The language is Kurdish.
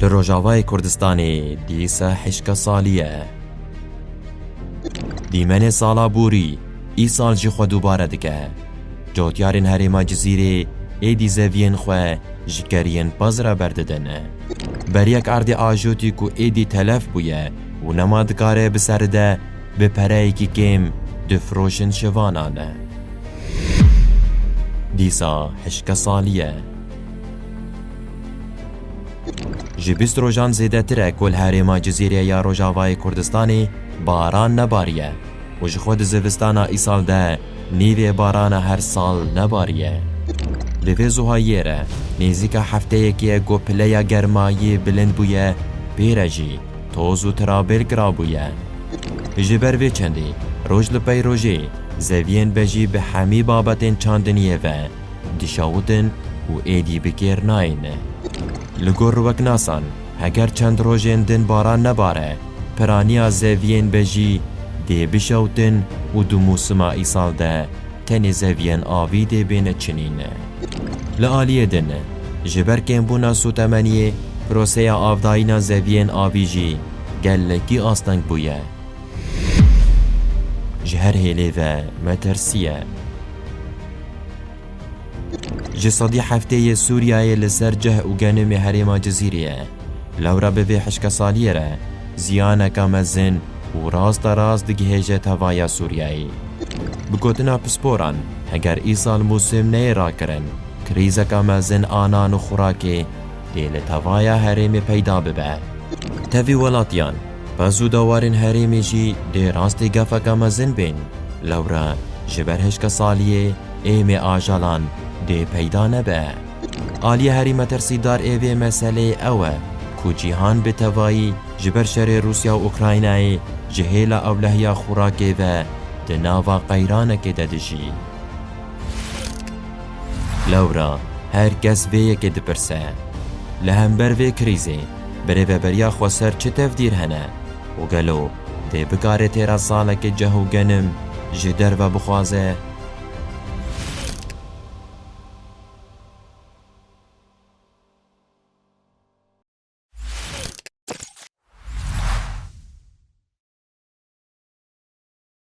Li Rojavayê Kurdistanê dîsa hişka salî ye. Dîmenê sala borî îsal jî xwe dubare dike. Cotyarên herêma Cizîrê êdî zeviyên xwe ji keriyên pez re berdidin. Beriyek erdê ajotî ku êdî telef bûye û nema dikare bi seri de bi pereyekî kêm difiroşin şivanan. Dîsa hişka salî ye. Ji bîst rojan zêdetir e ku li herêma Cizîrê ya Rojavayê Kurdistanê baran nebariye û ji xwe di zivistana îsal de nîvê barana her sal nebariye. Li vê zuhayiyê re nêzîka hefteyekê ye ku pileya germayî bilind bûye pê re jî toz û tirabêl kirabûye. Ji ber vê çendî roj li pey rojê zeviyên bejî bi hemî babetên çandiniyê ve Dişawidin û êdî bi kêr nayên. Li gor riweknasan, heger çend rojên din baran nebare, piraniya zeviyên be jî dê bişewtin û di mûsima îsal de tenê zeviyên avî dê bêne çinîn. Li aliyê din, ji ber kêmbûna sotemeniyê proseya avdayîna zeviyên avî jî gelekî asteng bûye. Ji her hêlê ve me tersiye. Ji sedî heftê yê Sûriyeyê li ser cih û genimê herêma Cizîrê ye. Lewra bi vê hişkesaliyê re ziyaneka mezin û rasta rast digihêje tevaya Sûriyeyê. Bi gotina pisporan, heger îsal mûsim neyê rakirin, krîzeka mezin a nan û xûrakê dê li tevaya herêmê peyda bibe. Tevî welatiyan, Pez û dawarên herêmê jî dê rastî gefeke mezin bên. Lewre ji ber hişka saliyê êmê ajalan dê peyda nebe. Aliye herî metirsîdar ê vê meseleyê ew e ku cîhan bi tevayî ji ber şerê Rûsya û Ukraynayê ji hêla ewlehiya xûrakê ve di nava qeyranekê de dijî. Lewra her kes vê yekê dipirse, Li hember vê krîzê Birêveberiya xweser çi tevdîr hene û gelo dê bikare têra salekê ceh û genim ji derve bixwaze?